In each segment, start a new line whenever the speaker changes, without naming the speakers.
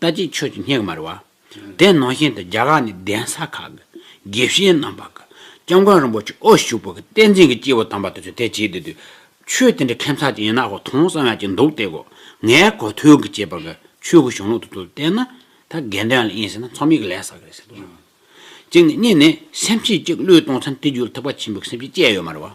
ལྟ་ཅི་ཆོས་ཀྱི་སྙེགས་མར་བ། དེ་ནང་བཞིན་དུ་རྒྱ་གར་ནས་གདན་ས་ཁག་གི་དགེ་བཤེས་རྣམ་པ་གི་སྐྱབས་མགོན་རིན་པོ་ཆེ་དབུ་བཞུགས་པ་གི་བསྟན་འཛིན་གི་སྐྱེས་བུ་དམ་པ་དེ་ཚོས་དེ་བྱེད་དེ་དུས་ཆོས་དེ་འདྲ་ཁེམ་ཚ་ཅིག་ཡིན་ན་ཧོ་ཐོང་བསམ་ཡ་ཅིག་འདུག་དེ་གོ་ངའི་གོ་ཐོས་གི་བྱས་པ་གི་ཆོས་གི་གཞུང་ལུགས་དེ་ཚོ་བསྟན་ན་ད་དགེ་འདུན་ལ་ཡིན་ཟེར་ན་ཚོམ་ཡིག་ལས་ཟ་གི་རེད་ཟེར་དུ་སོང། གཅིག་ནས་གཉིས་ནས་སེམས་ཤེས་ཅིག་བློས་གཏོང་ཚན་དེ་བརྒྱུད་དུ་ཐུབ་པ་ཆེན་པོ་གི་སེམས་ཤེས་སྐྱེ་ཡོད་མར་བ།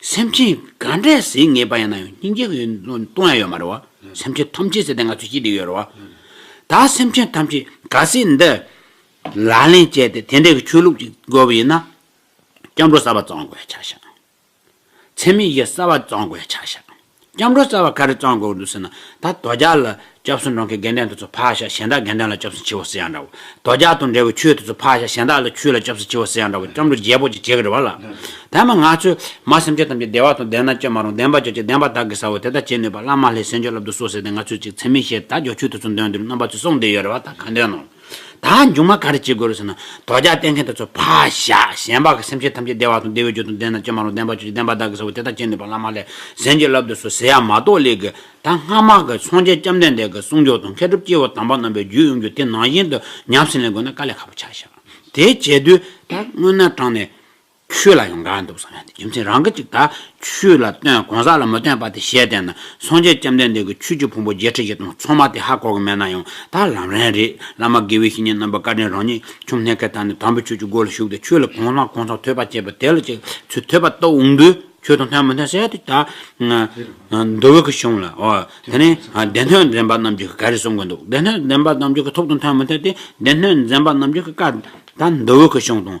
སེམས་ཅན་ག་འདྲས་ཟིན་ངེས་པ་ཡང་ན་ཡང་སྙིང་རྗེ་གི་སྟོང་ཡང་ཡོད་མ་རེད་བ། སེམས་ཅན་ཐམས་ཅད་ཟེར་ཏེ་ང་ཚོས་བྱེད་ཀྱི་ཡོད་རེད་བ། ད་སེམས་ཅན་ཐམས་ཅད་ག་སྲིད་འདི་ལག་ལེན་བྱས་ཏེ་དེ་འདྲའི་གི་ཆོས་ལུགས་ཅིག་དགོས་པ་ཡིན་ན། སྐྱབས་འགྲོ་གསར་བ་བརྩམ་དགོས་ཡ་ཆགས་ཤག། ཚད་མེད་གཞི་གསར་བ་བརྩམ་དགོས་ཡ་ཆགས་ཤག། སྐྱབས་འགྲོ་རྩ་བ་ག་རེ་གཙང་དགོས་འདུག་ཟེར་ན། ད་དོ་ཇག་ལ་སྐྱབས་སུ་འགྲོ་མཁན་རྒན་གྲས་དེ་ཚོ་ཕག་ཞག་གཞན་དག་རྒན་གྲས་ལ་སྐྱབས་སུ་མཆིའོ་ཟེར་ཡང་འདྲ་བོ། དོ་ཇག་དང་འབྲེལ་བའི་ཆོས་དེ་ཚོ་ཕག་ཞག་གཞན་དག་ལ་ཆོས་ལ་སྐྱབས་སུ་མཆིའོ་ཟེར་ཡང་འདྲ་བོ་སྐྱབས་འགྲོ་རྒྱལ་པོ་ཅིག་བྱེད་ཀྱི་རེད་བ་ལ། དེ་མ་ང་ཚོས་མ་སེམས་ཅན་ཐམས་ཅད་བདེ་བ་དང་ལྡན་ན་སྐྱོན་མ་རུང་བདེན་པ་ཅིག་བྱེད་བདེན་པ་དག་གིས་ས་བོ་དེ་དག་བྱེད་ནུས་པ་བླ་མ་ལྷའི་སེམས་ཅན་བསླབ་དུ་གསོལ་ཟེར་ཏེ་ང་ཚོས་ཅིག་འཚེ་མི་ཤེས་ད་ཇོ་ཆོས་དེ་ཚོ་འདོན་དུས་རྣམ་པ་ཚོས་གསུངས་བསྡད་ཡོད་རེད་བ་ད་གང་འདོད་ནོ། ད་མཇུག་མ་ག་རེ་བྱེད་དགོས་རེད་ཟེར་ན། དོ་རྒྱག་བསྟན་མཁན་དེ་ཚོ་ཕ་ཤ། གཞན་པ་གི་སེམས་ཅན་ཐམས་ཅད་བདེ་བ་དང་བདེ་བའི་རྒྱུ་དང་ལྡན་ན་ཅི་མ་རུང་བདེན་པ་ཆོས་ཀྱི་བདེན་པ་བདག་གིས་ཟེར་བ་དེ་དག་བྱེད་ནུས་པ་བླ་མ་ལས་གཞན་གྱིས་བསླབ་ཏུ་སུ་ཟེར་ཡ་མ་གཏོགས་ལས་གི་ད་སྔ་མ་གི་སངས་རྒྱས་སྐྱབས་མདན་འདས་གི་གསུང་མཆོག་དང་མཁས་གྲུབ་སྐྱེ་བོ་དམ་པ་རྣམས་པའི་རྒྱུད་དབྱུང་རྒྱུ་དེ་ནང་བཞིན་དུ་ཉམས་སུ་ལེན་དགོས་ན་དཀའ་ལས་ཁག་པོ་ཆགས། དེ་བྱེད་དུས་ད་སྔོན་ན་དྲངས་ནས། ཆོས་ལ་ཡང་འགའ་འདུག་བསམ་ཡང་དེ་རྒྱུ་མཚན་རང་གི་ཅིག་ད་ཆོས་ལ་སྟོན་གང་ཟག་ལ་མི་སྟོན་པ་དེ་ཞལ་བསྟན་ན་སངས་རྒྱས་བཅོམ་ལྡན་འདས་ཀྱི་ཆོས་ཀྱི་ཕུང་པོ་བརྒྱད་ཁྲི་བཞི་སྟོང་ཚང་མ་དེ་ཧ་གོ་གི་མེད་ན་ཡང་ད་ལམ་རན་རེད་བླ་མ་དགེ་བའི་བཤེས་གཉེན་རྣམ་པ་བཀའ་དྲིན་རང་ཉིད་ཆོམ་སྣེ་ཁའི་ད་ནས་དམ་པའི་ཆོས་ཀྱི་སྒོ་ལ་ཞུགས་ཏེ་ཆོས་ལ་གང་ཟག་གང་ཟག་ཐོས་པ་བྱས་པ་དེ་ལ་ཅིག་ཚུལ་ཐོས་པ་རྟོགས་འོང་དུས་ཆོས་དང་མཐུན་མི་མཐུན་གསལ་དུ་ད་འདོད་བོད་ཀྱི་གཞུང་ལ་འོ་དེ་ནས་སྡེ་སྣོད་འདྲེན་པ་རྣམས་ཀྱི་ག་རེ་གསུང་གི་འདུག་སྡེ་སྣོད་འདྲེན་པ་རྣམས་ཀྱི་ཐུགས་དང་མཐུན་མི་མཐུན་དེ་སྡེ་སྣོད་འདྲེན་པ་རྣམས་ཀྱི་བཀའ་ད་འདོད་བོད་ཀྱི་གཞུང་དང།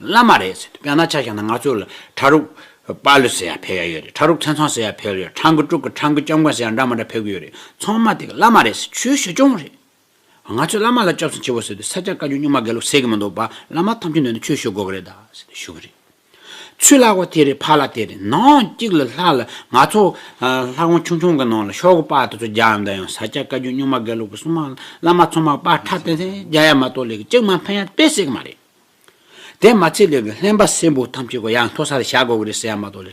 བླ་མ་རེད་ཟེར་དུས་དཔེར་ན་ཆ་བཞག་ན་ང་ཚོ་ལ་བྲག་རུ། དཔའ་ལུ་ཟེར་ཡ་ཕེབས་ཡ་ཡོད་རེད་བྲག་རུ་མཚན་ཚང་ཟེར་ཡ་ཕེབས་ཡོད་རེད་ཁྲང་ཀི་ཀྲུག་གི་ཁྲང་ཀི་སྐྱབས་མགོན་ཟེར་ཡ་འདྲ་མ་འདྲ་ཕེབས་གི་ཡོད་རེད་ཚང་མ་དེ་ག་བླ་མ་རེད་ཟེར་ཆོས་ཞུ་སྐྱོང་རེད། ང་ཚོས་བླ་མ་ལ་སྐྱབས་སུ་མཆི་བོ་ཟེར་དུས་ས་སྐྱ་བཀའ་བརྒྱུད་སྨྱུག་མ་དགེ་ལུགས་ཟེར་གི་མི་འདུག་བླ་མ་ཐམས་ཅད་འདོད་ན་ཆོས་ཞུ་དགོས་གི་རེད་ད་ཟེར་དུས་ཞུ་གི་རེད། ཆུ་བླ་གོ་དེ་རེད་ཕ་བླ་དེ་རེད་ནང་གཅིག་ལ་ལྷག་ལ་ང་ཚོ། ལྷ་ཁང་ཆུང་ཆུང་གི་ནང་ལ་ཤོག་གུ་དཔའ་དེ་ཚོ་རྒྱག་ཡ་མདའ་ཡང་ས་སྐྱ་བཀའ་བརྒྱུད་སྨྱུག་མ་དགེ་ལུགས་གི་སྲུང་མ་བླ་མ་ཚང་མ་དཔའ་ཁྲ་དེ་ཚོ་རྒྱག་ཡ་མ་གཏོགས་ལས་གི་གཅིག་མ་ཕན་ཡ་དཔེ་ཟེར་གི་མ་རེད། དེ་མ་ཚད་ལས་ཀྱི་ལྷན་པ་སེར་པོ་ཐམས་ཅད་ཀྱི་ཡང་མཐོ་སར་བཞག་དགོས་ཀྱི་རེད་ཟེར་ཡ་མ་གཏོགས་ལས།